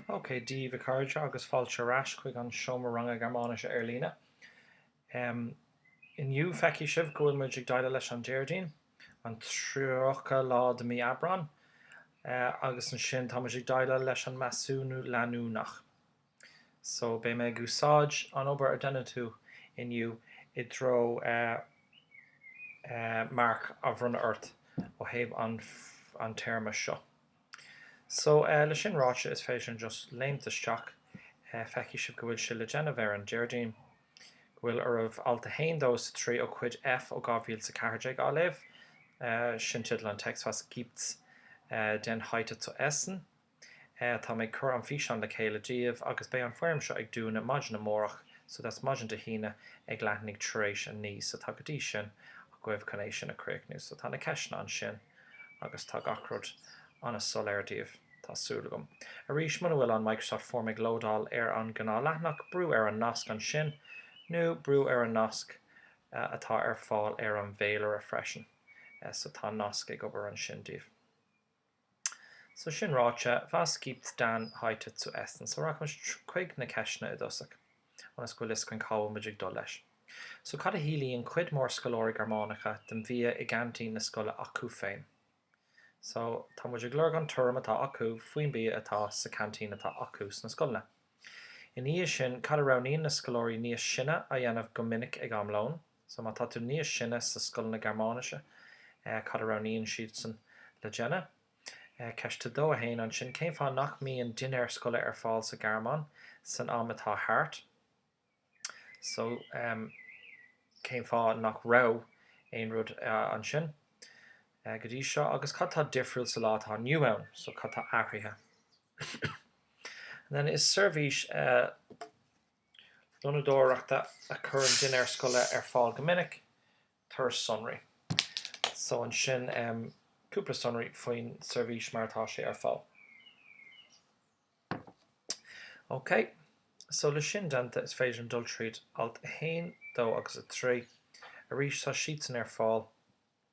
OK, Dia daoibh a chairde agus fáilte ar ais chuig an seomra ranga Gearmáinise ar líne. Inniu feicfidh sibh go bhfuil muid ag déileáil leis an Déardaoin, an 30 lá de mí Aibreán, agus ansin tá muid ag déileáil leis an measúnú leanúnach. So beidh mé ag úsáid an obair a dhéanfaidh tú inniu i dtreo marc a bhronnadh ort ó thaobh an téarma seo. So le sin ráite is féidir linn just léimt isteach. Feicfidh sibh go bhfuil sé le déanamh ar an Déardaoin. Go bhfuil oraibh alt 1, 2 is 3 ó Chuid F ó 2014 á léamh. Sin teideal an text, Was gibt's denn heute zu essen? Tá mé ag cur an físeán le chéile daoibh agus beidh an foirm seo ag dúnadh maidin amárach so that's maidin Dé hAoine ag leathuair tar éis a naoi so tá go dtí sin agaibh chun é sin a chríochnú so tá na ceisteanna ansin agus tá gach rud an-soiléir daoibh tá súil agam. Arís muna bhfuil an Microsoft Form ag lódáil ar an gnáth leathanach brúigh ar an nasc ansin nó brúigh ar an nasc atá ar fáil ar an bhféilire freisin so tá nasc ag obair ansin daoibh. So sin ráite, was gibt's denn heute zu essen? So rachaimis chuig na ceisteanna i dtosach, ionas go bhfuil fhios againn cá bhfuil muid ag dul leis. So cad a shíleann cuid mhór scoláirí Gearmánacha den bhia i gceaintín na scoile acu féin? So tá muid ag lorg an tuairim atá acu faoin bia atá sa ceaintín atá acu sna scoileanna. Ina dhiaidh sin, cad a roghnaíonn na scoláirí níos sine a dhéanamh go minic ag am lóin? So má tá tú níos sine sa scoileanna Gearmáinise, cad a roghnaíonn siadsan le déanamh? Ceist 2, 1. Ansin, cén fáth nach mbíonn dinnéar scoile ar fáil sa Ghearmáin san am atá thart? So cén fáth nach raibh aon rud ansin go dtí seo agus cad tá difriúil sa lá atá inniu ann? So cad tá athraithe? And then is seirbhís. lónadóireachta a chuireann dinnéir scoile ar fáil go minic, tabhair sonraí. So ansin em cúpla sonraí faoin seirbhís mar atá sé ar fáil. OK, so le sin déanta is féidir linn dul tríd alt a haon, dó agus a trí. Arís tá siadsan ar fáil.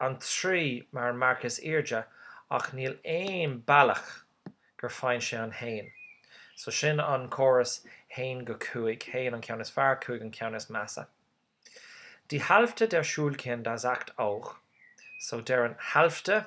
an trí mar marc is airde ach níl aon bealach gur faigheann sé an haon. So sin an córas haon go cúig, haon an ceann is fearr, cúig an ceann is measa. Die Hälfte der Schulkinder sagt auch, so deir an Hälfte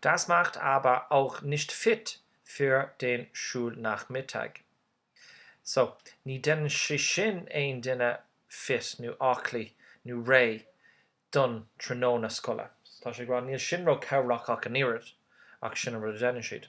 Das macht aber auch nicht fit für den Schulnachmittag. So, ní dhéanann sé sin aon duine fit, nó aclaí, nó réidh, don tráthnóna scoile. So tá sé ag rá, níl sin ró-chabhrach ach an oiread, ach sin an rud a dhéanann siad.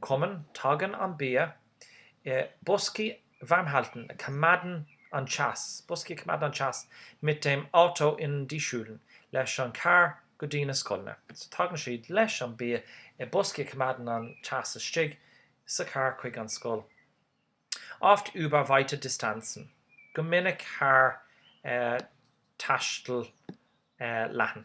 kommen, tagann an bia i boscaí warmhalten a choimeádann an teas, boscaí a choimeádann an teas mit dem Auto in die Schulen leis an carr go dtí na scoileanna, so tagann siad leis an bia i boscaí a choimeádann an teas istigh sa charr chuig an scoil oft über weite Distanzen go minic thar taisteal leathan.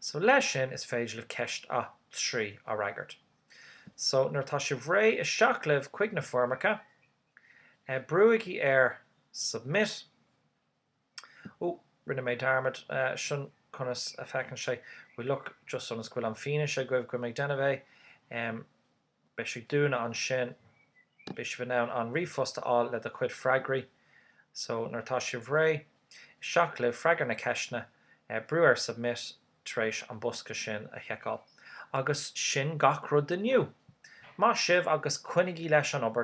So leis sin is féidir libh ceist a 3 a fhreagairt. So nuair atá sibh réidh isteach libh chuig na foirmeacha, brúigí ar Submit. Ooh, rinne mé dearmad, sin conas a fhéachann sé. We look just ionas go bhfuil an fianaise agaibh go ndearna sibh é. Beidh sibh ag dúnadh ansin. Beidh sibh in ann an ríomhphost a fháil le do chuid freagraí. So, nuair atá sibh réidh, isteach libh, freagair na ceisteanna, brú ar submit tar éis an bosca sin a thiceáil. Agus sin gach rud inniu! Maith sibh agus coinnigí leis an obair!